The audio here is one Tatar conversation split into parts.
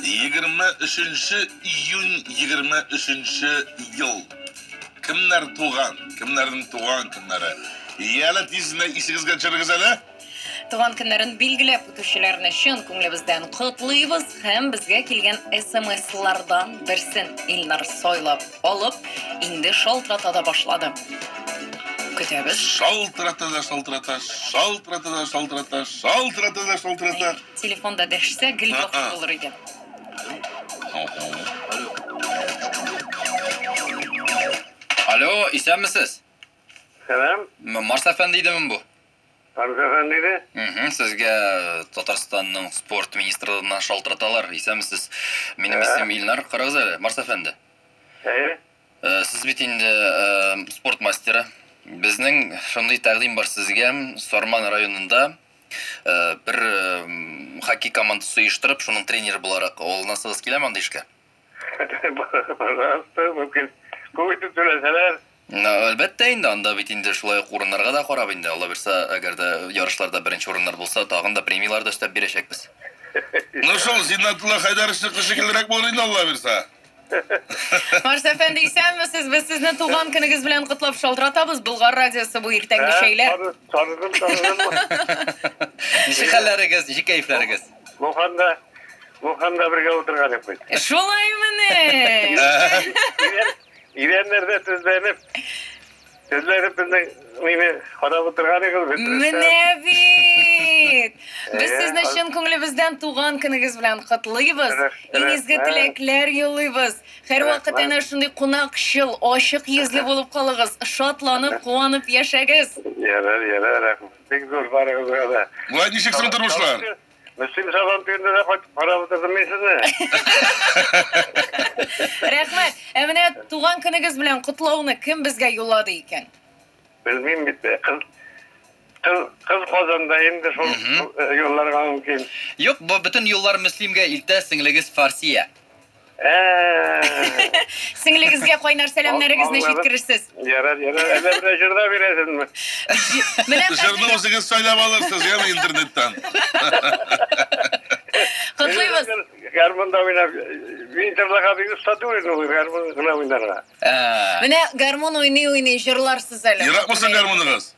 Егерме өченче июнь егерме өченче ел. Кемнәр туган? Кемнәрнең туган көннәре? Янә тиз генә исегезгә төшерегез әле. Туган көннәрен билгеләп үтүчеләрне чын күңелебездән котлыйбыз һәм безгә килгән смслардан берсен Илнар сайлап Алып, инде шалтырата да башлады. Көтәбез. Шалтырата да шалтырата, шалтырата да шалтырата, шалтырата да шалтырата. Телефонда дәшсә, гел яхшы булыр иде. Алло, исәнмесез? Сәлам. Марс әфәнде идеме бу? Арза Гамире? Мхм, сезгә э, Татарстанның спорт министрлыгыннан шалтыраталар. Исәнмесез. Минем исем Илнар. Карагыз әле, Марс әфәнде. Әйе. Э, Сез бит инде э, спорт мастеры. Безнең шундый тәкъдим бар сезгә. Сарман районында э, бер э, м, хоккей командасы оештырып, шуның тренеры буларак алынасыгыз киләме андый эшкә? Пожалуйста, мөмкин. Күп итеп түләсәләр. Әлбәттә инде, анда бит инде шулай ук урыннарга да карап инде, Алла бирса, әгәр дә ярышларда беренче урыннар булса, тагын да премияләр дә өстәп бирәчәкбез. Ну шул, Зиннәтулла Хәйдәровичныкы шикеллерәк булыр инде, Алла бирса. Марс әфәнде, исәнмесез! Без сезне туган көнегез белән котлап шалтыратабыз! Болгар радиосы бу, иртәнге чәйләр. Ә, таныдым, таныдым. Ничек хәлләрегез, ничек кәефләрегез? Муханда, Муханда бергә утырган идек бит. Шулаймыни? Идәннәрдә тезләнеп, тезләнеп безнең мине карап утырган идегез бит. Менә бит. Без сезне чын күңелебездән туган көнегез белән котлыйбыз. Иң изге теләкләр юллыйбыз. Һәрвакыт әнә шундый кунакчыл, ачык йөзле булып калыгыз. Шатланып, куанып яшәгез. Ярар, ярар, рәхмәт. Бик зур барыгызга да. Вай, ничек соң тормышлар? Мөслим Сабан туенда да кайтып карап утырдым мин сезне. Рәхмәт. Ә менә туган көнегез белән котлауны кем безгә юллады икән? Белмим бит. Кыз кыз, кыз Казанда инде шул юлларга мөмкин. Юк, бу бөтен юллар Мөслимгә илтә сеңлегез Фарсия. Сеңлегезгә кайнар сәламнәрегезне җиткерерсез. Ярар, ярар. Әллә бер җырда бирәсезме? Менә Җырны үзегез сайлап алырсыз, яме интернеттан. Котлыйбыз. Гармунда уйнап, мин җырларга бик оста түгел, гармун гына уйнарга. Менә гармун уйный-уйный җырларсыз әле. Яратмысың гармуныгыз?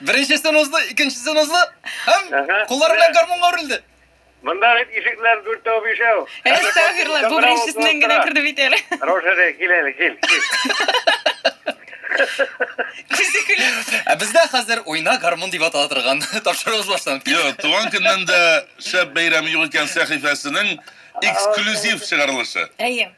Беренчесен узды, икенчесен узды. Һәм Ага. куллары белән гармунга үрелде. Монда бит ишекләр дүртәү бишәү. Әстәгфирулла, бу беренчесеннән генә керде бит әле. Рожере, кил әле, кил. кил. Күзе көлә. Ә бездә хәзер уйна гармун дип атала торган тапшыруыбыз башланып китте. Юк, туган көннән дә шәп бәйрәм юк икән сәхифәсенең эксклюзив чыгарылышы. Әйе.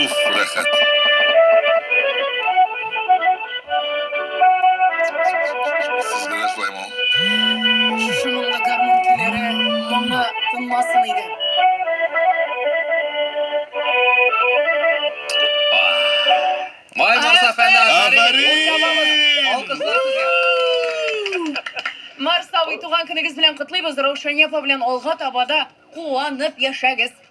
Уф, рәхәт. Сезгә дә шулаймы ул? Шушы моңлы гармун көйләре моңы тынмасын иде. Вай, Марс әфәнде, афәрин! Алкышлар сезгә! Марс абый, туган көнегез белән котлыйбыз, Раушания апа белән алга таба да куанып яшәгез!